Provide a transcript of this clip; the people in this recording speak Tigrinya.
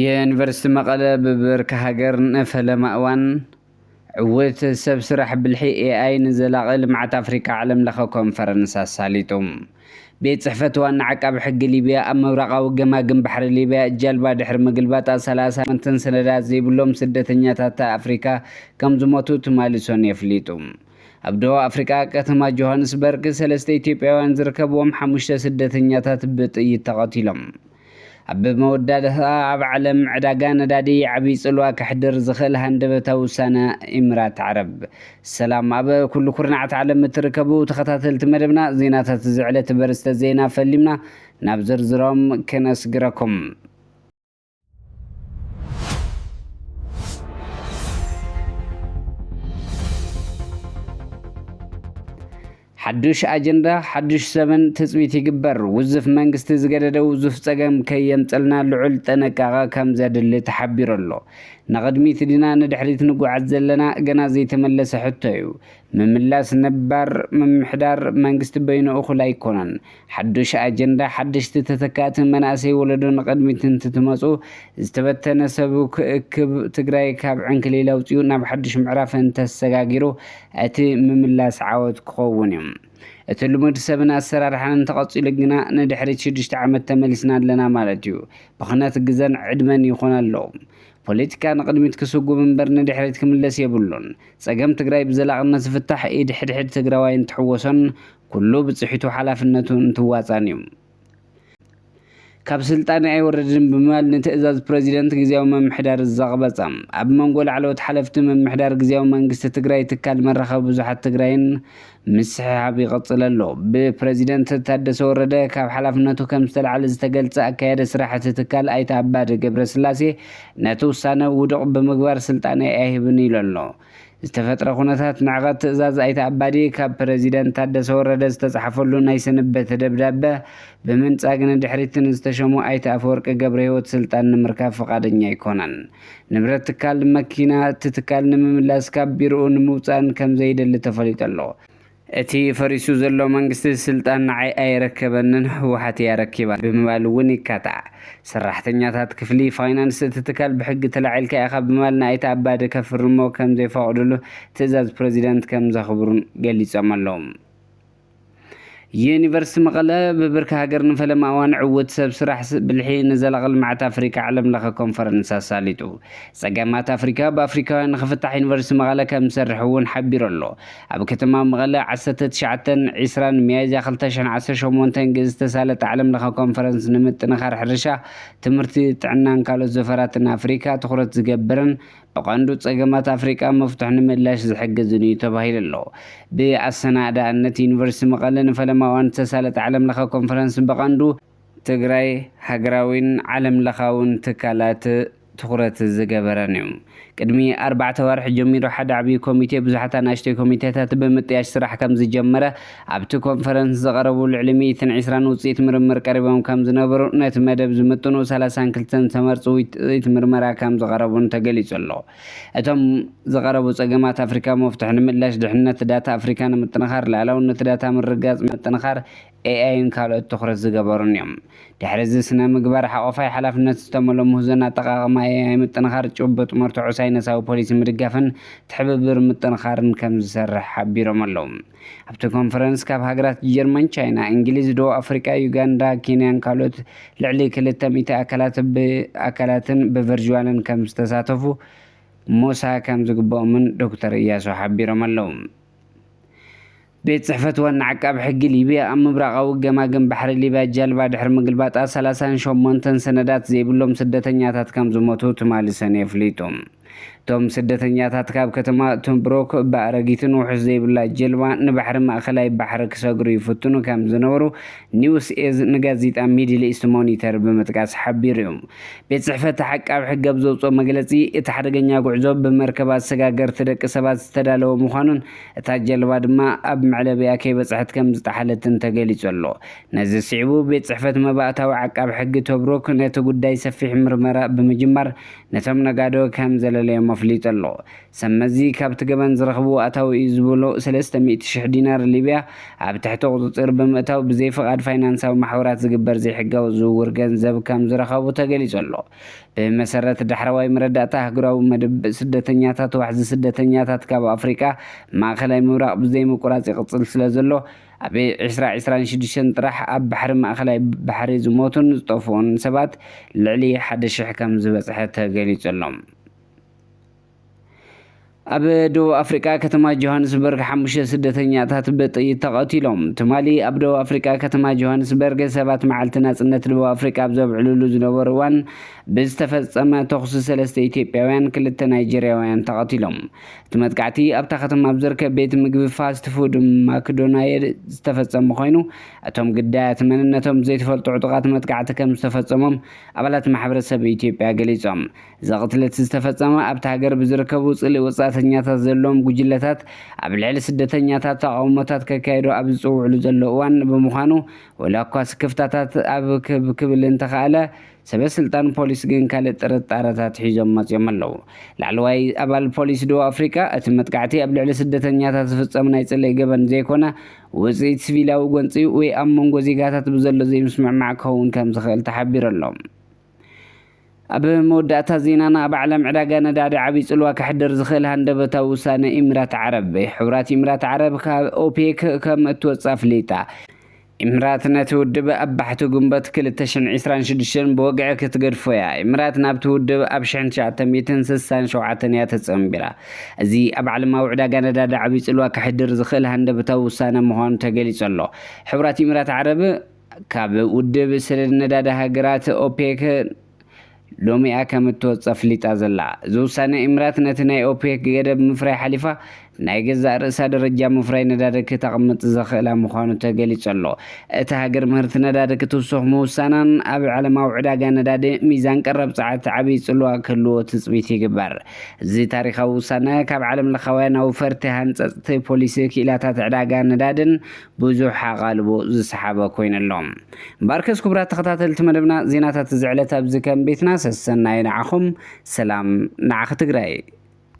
ዩኒቨርሲቲ መቐለ ብብርኪ ሃገር ንፈለማ እዋን ዕዉት ሰብ ስራሕ ብልሒ ኤኣይ ንዘላቒ ልምዓት ኣፍሪካ ዓለም ለኸ ኮንፈረንስ ኣሳሊጡ። ቤት ፅሕፈት ዋና ዓቃቢ ሕጊ ሊብያ ኣብ ምብራቓዊ ገማግም ባሕሪ ሊብያ ጃልባ ድሕሪ ምግልባጣ ሰላሳ መትን ሰነዳት ዘይብሎም ስደተኛታት ኣፍሪካ ከምዝሞቱ ትማሊ ሰኑይ ኣፍሊጡ። ኣብ ደቡብ ኣፍሪቃ ከተማ ጆሃንስበርግ ሰለስተ ኢትዮጵያውያን ዝርከብዎም ሓሙሽተ ስደተኛታት ብጥይት ተቐቲሎም። ኣብ መወዳእታ ኣብ ዓለም ዕዳጋ ነዳዲ ዓብይ ጽልዋ ከሕድር ዝኽእል ሃንደበታዊ ውሳነ ኢምራት ዓረብ። ሰላም ኣብ ኩሉ ኩርናዓት ዓለም እትርከቡ ተኸታተልቲ መደብና ዜናታት እዚ ዕለት በርስተ ዜና ፈሊምና ናብ ዝርዝሮም ክነስግረኩም። ሓዱሽ ኣጀንዳ ሓዱሽ ዘበን ትፅቢት ይግበር፣ ውዝፍ መንግስቲ ዝገደደ ውዙፍ ፀገም ከየምፀልና ልዑል ጥንቃቐ ከምዘድሊ ተሓቢሩ ኣሎ። ንቕድሚት ድና ንድሕሪት ንጉዓዝ ዘለና? ገና ዘይተመለሰ ሕቶ ዩ። ምምላስ ነባር ምምሕዳር መንግስቲ በይኑ እኹል ኣይኮነን። ሓዱሽ ኣጀንዳ፣ ሓደሽቲ ተተካእቲ መናእሰይ ወለዶ ንቕድሚት እንትትመፁ ዝተበተነ ሰቡ ክእክብ፣ ትግራይ ካብ ዕንክሊል ኣውፂኡ ናብ ሓዱሽ ምዕራፍ እንተሰጋጊሩ እቲ ምምላስ ዓወት ክኸውን እዩ። እቲ ልሙድ ሰብን ኣሰራርሓን እንተቐፂሉ ግና ንድሕሪት ሽዱሽተ ዓመት ተመሊስና ኣለና ማለት እዩ። ብኽነት ግዘን ዕድመን ይኾን ኣሎ። ፖለቲካ ንቕድሚት ክስጉም እምበር ንድሕሪት ክምለስ የብሉን። ፀገም ትግራይ ብዘላቕነት ዝፍታሕ ኢድ ሕድሕድ ትግራዋይን ትሕወሶን ኩሉ ብጽሒቱ ሓላፍነቱ እንትዋጻእን እዩ። ካብ ስልጣን ኣይወርድን ብምባል ንትእዛዝ ፕረዚደንት ግዝያዊ ምምሕዳር ዘቕበጸ፣ ኣብ መንጎ ላዕለዎት ሓለፍቲ ምምሕዳር ግዝያዊ መንግስቲ ትግራይ ትካል መራኸቢ ብዙሓት ትግራይን ምስሕሓብ ይቕጽል ኣሎ። ብፕረዚደንት ታደሰ ወረደ ካብ ሓላፍነቱ ከም ዝተላዕለ ዝተገልጸ ኣካያዲ ስራሕ እቲ ትካል ኣይተ ኣባዲ ገብረስላሴ ነቲ ውሳነ ውዱቕ ብምግባር ስልጣነይ ኣይህብን ኢሉ ኣሎ። ዝተፈጥረ ኩነታት ንዕቐት ትእዛዝ ኣይተ ኣባዲ ካብ ፕረዚደንት ታደሰ ወረደ ዝተፅሓፈሉ ናይ ስንበት ደብዳበ ብምንፃግ ንድሕሪት ንዝተሸሙ ኣይተ ኣፈወርቂ ገብረሂወት ስልጣን ንምርካብ ፍቓደኛ ኣይኮነን። ንብረት ትካል መኪና እቲ ትካል ንምምላስ ካብ ቢርኡ ንምውፃእን ከምዘይደሊ ተፈሊጡ ኣሎ። እቲ ፈሪሱ ዘሎ መንግስቲ ስልጣን ንዓይ ኣይረከበንን ህወሓት እያ ኣረኪባ ብምባል እውን ይካታዕ። ሰራሕተኛታት ክፍሊ ፋይናንስ እቲ ትካል ብሕጊ ተላዒልካ ኢኻ ብምባል ንኣይተ ኣባዲ ከፍርሞ ከምዘይፈቕድሉ ትእዛዝ ፕረዚዳንት ከምዘኽብሩን ገሊፆም ኣለው። ዩኒቨርስቲ መቐለ ብብርኪ ሃገር ንፈለማ እዋን ዕውት ሰብ ስራሕ ብልሒ ንዘላቒ ልምዓት ኣፍሪካ ዓለም ለኸ ኮንፈረንስ ኣሳሊጡ። ፀገማት ኣፍሪካ ብኣፍሪካውያን ንክፍታሕ ዩኒቨርስቲ መቐለ ከምዝሰርሕ እውን ሓቢሩ ኣሎ። ኣብ ከተማ መቐለ ዓሰርተ ትሽዓተን ዒስራን ሚያዝያ ክልተ ሽሕን ዓሰርተ ሸሞንተን ግእዝ ዝተሳለጠ ዓለም ለኸ ኮንፈረንስ ንምጥንኻር ሕርሻ፣ ትምህርቲ፣ ጥዕናን ካልኦት ዘፈራትን ኣፍሪካ ትኹረት ዝገብርን ብቐንዱ ፀገማት ኣፍሪካ መፍቱሕ ንምእላሽ ዝሕግዝን እዩ ተባሂሉ ኣሎ። ብኣሰናእዳእነት ዩኒቨርሲቲ መቐለ ንፈለማ እዋን ዝተሳለጠ ዓለም ለኸ ኮንፈረንስ ብቐንዱ ትግራይ ሃገራዊን ዓለም ለኻውን ትካላት ትኹረት ዝገበረን እዩ። ቅድሚ ኣርባዕተ ኣዋርሕ ጀሚሩ ሓደ ዓብዪ ኮሚቴ ብዙሓት ኣናእሽተይ ኮሚቴታት ብምጥያሽ ስራሕ ከምዝጀመረ ኣብቲ ኮንፈረንስ ዝቐረቡ ልዕሊ ሚእትን ዒስራን ውፅኢት ምርምር ቀሪቦም ከምዝነበሩ ነቲ መደብ ዝምጥኑ ሰላሳን ክልተን ዝተመርፁ ውፅኢት ምርመራ ከምዝቐረቡን ተገሊፁ ኣሎ። እቶም ዝቐረቡ ፀገማት ኣፍሪካ መፍትሑ ንምእላሽ ድሕንነት ዳታ ኣፍሪካ ንምጥንኻር ልኣላውነት ዳታ ምርግጋፅ ምጥንኻር ኤኣይን ካልኦት ትኹረት ዝገበሩን እዮም። ድሕሪ እዚ ስነ ምግባር ሓቆፋይ ሓላፍነት ዝተመልኦ ምህዞን ኣጠቓቕማ ኤኣይ ምጥንኻር ጭቡጥ መርትዖ ሳይነሳዊ ፖሊሲ ምድጋፍን ትሕብብር ምጥንኻርን ከም ዝሰርሕ ሓቢሮም ኣለው። ኣብቲ ኮንፈረንስ ካብ ሃገራት ጀርመን፣ ቻይና፣ እንግሊዝ፣ ደቡብ ኣፍሪቃ፣ ዩጋንዳ፣ ኬንያን ካልኦት ልዕሊ ክልተ ሚእቲ ኣካላት ብኣካላትን ብቨርጅዋልን ከም ዝተሳተፉ ሞሳ ከም ዝግበኦምን ዶክተር እያሱ ሓቢሮም ኣለው። ቤት ጽሕፈት ዋና ዓቃቢ ሕጊ ሊብያ ኣብ ምብራቓዊ ገማግም ባሕሪ ሊብያ ጃልባ ድሕሪ ምግልባጣ ሰላሳን ሸሞንተን ሰነዳት ዘይብሎም ስደተኛታት ከም ዝሞቱ ትማሊ ሰነ ኣፍሊጡ። እቶም ስደተኛታት ካብ ከተማ ቶብሩክ ብኣረጊትን ውሑስ ዘይብላ ጀልባ ንባሕሪ ማእከላይ ባሕሪ ክሰግሩ ይፍትኑ ከም ዝነበሩ ኒውስ ኤዝ ንጋዜጣ ሚድል ኢስት ሞኒተር ብምጥቃስ ሓቢሩ'ዩ። ቤት ጽሕፈት ዓቃቢ ሕጊ ኣብ ዘውጽኦ መግለጺ፣ እቲ ሓደገኛ ጉዕዞ ብመርከብ ኣሰጋገርቲ ደቂ ሰባት ዝተዳለወ ምዃኑን እታ ጀልባ ድማ ኣብ መዕለቢኣ ከይበጽሐት ከም ዝጠሓለትን ተገሊጹ ኣሎ። ነዚ ስዒቡ ቤት ጽሕፈት መባእታዊ ዓቃቢ ሕጊ ቶብሩክ ነቲ ጉዳይ ሰፊሕ ምርመራ ብምጅማር ነቶም ነጋዶ ከም ዘለለዮም ኣፍሊጡ ኣሎ። ሰብመዚ ካብቲ ገበን ዝረኽብዎ ኣታዊ እዩ ዝበሎ ሰለስተ ሚእቲ ሽሕ ዲናር ሊብያ ኣብ ትሕቲ ቁጽጽር ብምእታው ብዘይ ፍቓድ ፋይናንሳዊ ማሕበራት ዝግበር ዘይሕጋዊ ዝውውር ገንዘብ ከም ዝረኸቡ ተገሊጹ ኣሎ። ብመሰረት ዳሕረዋይ መረዳእታ ኣህጉራዊ መደብ ስደተኛታት ዋሕዚ ስደተኛታት ካብ ኣፍሪቃ ማእከላይ ምብራቕ ብዘይ ምቁራጽ ይቕጽል ስለ ዘሎ ኣብ ዕስራ ዕስራን ሽዱሽተን ጥራሕ ኣብ ባሕሪ ማእከላይ ባሕሪ ዝሞቱን ዝጠፍኡን ሰባት ልዕሊ ሓደ ሽሕ ከም ዝበጽሐ ተገሊጹ ኣሎ። ኣብ ደቡብ ኣፍሪቃ ከተማ ጆሃንስበርግ ሓሙሽተ ስደተኛታት ብጥይት ተቐቲሎም። ትማሊ ኣብ ደቡብ ኣፍሪቃ ከተማ ጆሃንስበርግ ሰባት መዓልቲ ናጽነት ደቡብ ኣፍሪቃ ኣብ ዘብዕልሉ ዝነበሩ እዋን ብዝተፈጸመ ተኹሲ ሰለስተ ኢትዮጵያውያን ክልተ ናይጀርያውያን ተቐቲሎም። እቲ መጥቃዕቲ ኣብታ ከተማ ኣብ ዝርከብ ቤት ምግቢ ፋስት ፉድ ማክዶናየድ ዝተፈጸመ ኮይኑ እቶም ግዳያት መንነቶም ዘይተፈልጡ ዕጡቓት መጥቃዕቲ ከም ዝተፈጸሞም ኣባላት ማሕበረሰብ ኢትዮጵያ ገሊጾም። እዚ ቅትለት ዝተፈጸመ ኣብታ ሃገር ብዝርከቡ ጽልኢ ወጻእተኛታት ዘለዎም ጉጅለታት ኣብ ልዕሊ ስደተኛታት ተቓውሞታት ከካይዱ ኣብ ዝጽውዕሉ ዘሎ እዋን ብምዃኑ ወላኳ ስክፍታታት ኣብ ክብ ክብል እንተኸኣለ ሰበ ስልጣን ፖሊስ ግን ካልእ ጥርጣረታት ሒዞም መጺኦም ኣለዉ። ላዕለዋይ ኣባል ፖሊስ ደቡብ ኣፍሪቃ እቲ መጥቃዕቲ ኣብ ልዕሊ ስደተኛታት ዝፍጸም ናይ ጽልኢ ገበን ዘይኮነ ውጽኢት ስቪላዊ ጎንጺ ወይ ኣብ መንጎ ዜጋታት ብዘሎ ዘይምስምዕማዕ ክኸውን ከም ዝኽእል ተሓቢሩ ኣሎ። ኣብ መወዳእታ ዜናና ኣብ ዓለም ዕዳጋ ነዳዲ ዓቢ ጽልዋ ከሕድር ዝኽእል ሃንደበታዊ ውሳነ ኢሚራት ዓረብ። ሕቡራት ኢሚራት ዓረብ ካብ ኦፔክ ከም እትወጽእ ኣፍሊጣ። ኢሚራት ነቲ ውድብ ኣብ ባሕቲ ግንቦት ክልተ ሽሕን ዒስራን ሽዱሽተን ብወግዒ ክትገድፎ እያ። ኢሚራት ናብቲ ውድብ ኣብ ሽሕን ትሽዓተ ሚእትን ስሳን ሸውዓተን እያ ተጸንቢራ። እዚ ኣብ ዓለማዊ ዕዳጋ ነዳዲ ዓቢ ጽልዋ ከሕድር ዝኽእል ሃንደበታዊ ውሳነ ምዃኑ ተገሊጹ ኣሎ። ሕቡራት ኢሚራት ዓረብ፣ ካብ ውድብ ስርር ነዳዲ ሃገራት፣ ኦፔክ፣ ሎሚ'ያ ከም እትወጽእ ኣፍሊጣ ዘላ። እዚ ውሳነ፣ ኢምራት ነቲ ናይ ኦፔክ ገደብ ምፍራይ ሓሊፋ፣ ናይ ገዛእ ርእሳ ደረጃ ምፍራይ ነዳዲ ክተቕምጥ ዘኽእላ ምዃኑ ተገሊጹ ኣሎ። እታ ሃገር ምህርቲ ነዳዲ ክትውስኽ ምውሳናን፣ ኣብ ዓለማዊ ዕዳጋ ነዳዲ ሚዛን ቀረብ ጸዓት ዓቢ ጽልዋ ክህልዎ ትጽቢት ይግበር። እዚ ታሪኻዊ ውሳነ፣ ካብ ዓለምለኻውያን ኣውፈርቲ ሃንጸጽቲ ፖሊሲ ክኢላታት ዕዳጋ ነዳዲን፣ ብዙሕ ኣቓልቦ ዝሰሓበ ኮይኑ ኣሎ። እምበኣርከስ ክቡራት ተኸታተልቲ መደብና ዜናታት እዚ ዕለት ኣብዚ ከም ቤትና ሰሰናዩ ንዓኹም ሰላም ንዓኺ ትግራይ።